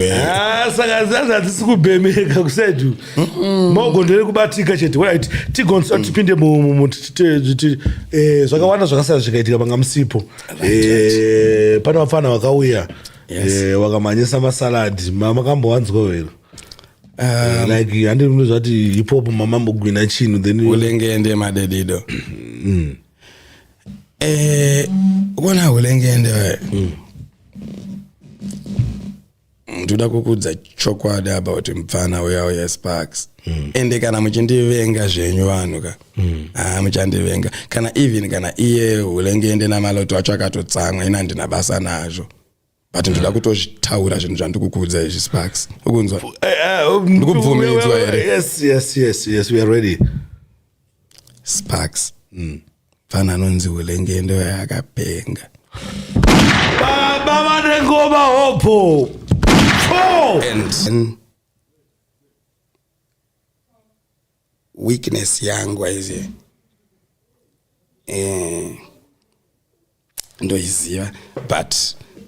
ah, saka zazi hatisi kubhemeka kusedu maoko nderekubatika chete wait tigonsa mm. tipinde eh, zvakawanda zvakasiyana zvikaitika panga musipo eh, pane vapfana vakauya eh, wakamhanyisa masaladi makambowanzwa here Um, like handi mntu zvati hip hop mamambogwina chinhu then ulengende madedido mm. eh ukona hulengende wewe mm. ndoda kukudza chokwadi about mupfana uya uya sparks mm. ende kana muchindivenga zvenyu vanhu ka mm. ah, muchandivenga kana even kana iye hulengende namaloto acho akatotsamwa ina ndina basa nazvo but ndoda mm. kutotaura zvinhu zvandikukuudza izvi sparks ukunzwa eh, eh, oh, ndikubvumidzwa here sparks mm. fana anonzi ulenge ndo yakapenga baba vane ngoma hopo and, and weakness yangu aiziva eh, ndoiziva but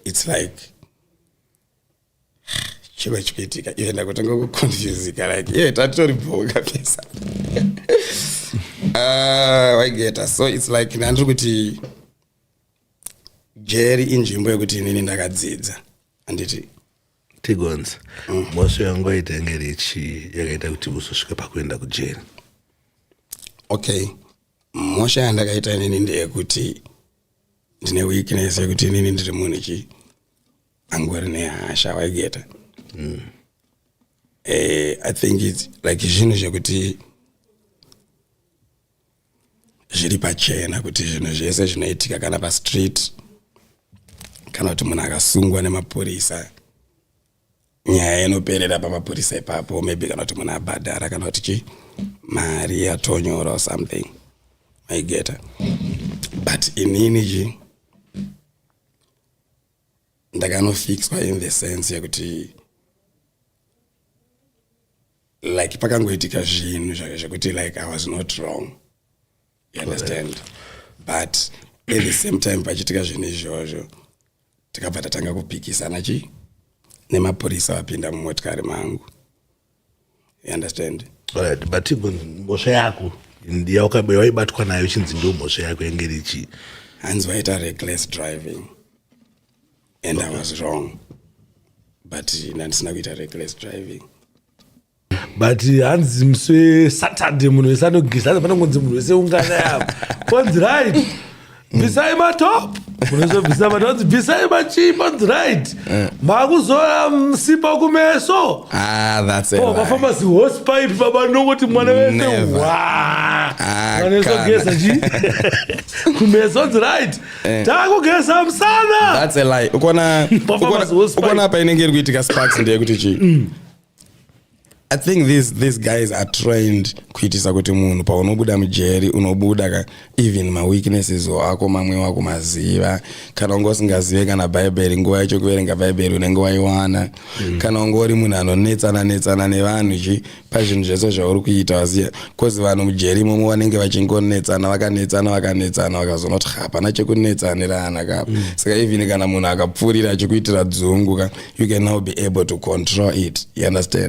its like chiro chikuitika iye ndakutanga kuconfusika like ye tatitori bhoka pesa ah, waigeta so its like ndandiri kuti jeri inzvimbo yekuti inini ndakadzidza anditi tigonzi mm. mhosva yangu yaitenge richi yakaita kuti uzosvika pakuenda kujeri okay mhosva yandakaita inini ndeyekuti ndine weakness yekuti inini ndiri munhu chi angori nehasha waigeta mm. eh, i think its like zvinhu zvekuti zviri pachena kuti zvinhu zvese zvinoitika kana pastreet kana kuti munhu akasungwa nemapurisa nyaya inoperera pamapurisa ipapo maybe kana kuti munhu abhadhara kana kuti chi mari yatonyora or something maigeta but inini chi ndakanofixwa in the sense yekuti like pakangoitika zvinhu zvekuti like i was not wrong you understand but at the same time pachiitika zvinhu izvozvo tikabva tatanga kupikisana chi nemapurisa vapinda mumotikari mangu you understand right but mhosva yako yawaibatwa nayo chinzi ndo mhosva yako yange richi hanzi waita reckless driving and i was wrong but ndandisina kuita reckless driving but hanzi musi wesaturday munhu wese anogeza hanzi panongonzi munhu wese ungana yavo konzi right bvisai matop unozobvisa vanhu vanzi bvisai machii panzi right eh. makuzora msipa mm, kumeso ah, vafamba zihose pipe baba nongoti mwana wese ah, mwana wese ogeza chii kumeso anzi right Eh. takugeza musana ukona apa inenge iri kuitika sparks ndeyekuti chii mm. i think these, these guys are trained kuitisa kuti munhu paunobuda mujeri unobuda ka even maweaknesses ako mamwe wako maziva kana unge usingazive kana bhaibheri nguva yacho kuverenga bhaibheri unenge waiwana mm. kana unge uri munhu anonetsana netsana nevanhu chi pazvinhu zvese zvauri kuita waziva bcause vanhu mujeri imomo vanenge vachingonetsana vakanetsana vakanetsana vakazonoti hapana chekunetsanirana kapa mm. saka even kana munhu akapfuurira achikuitira dzungu ka you can now be able to control it you understand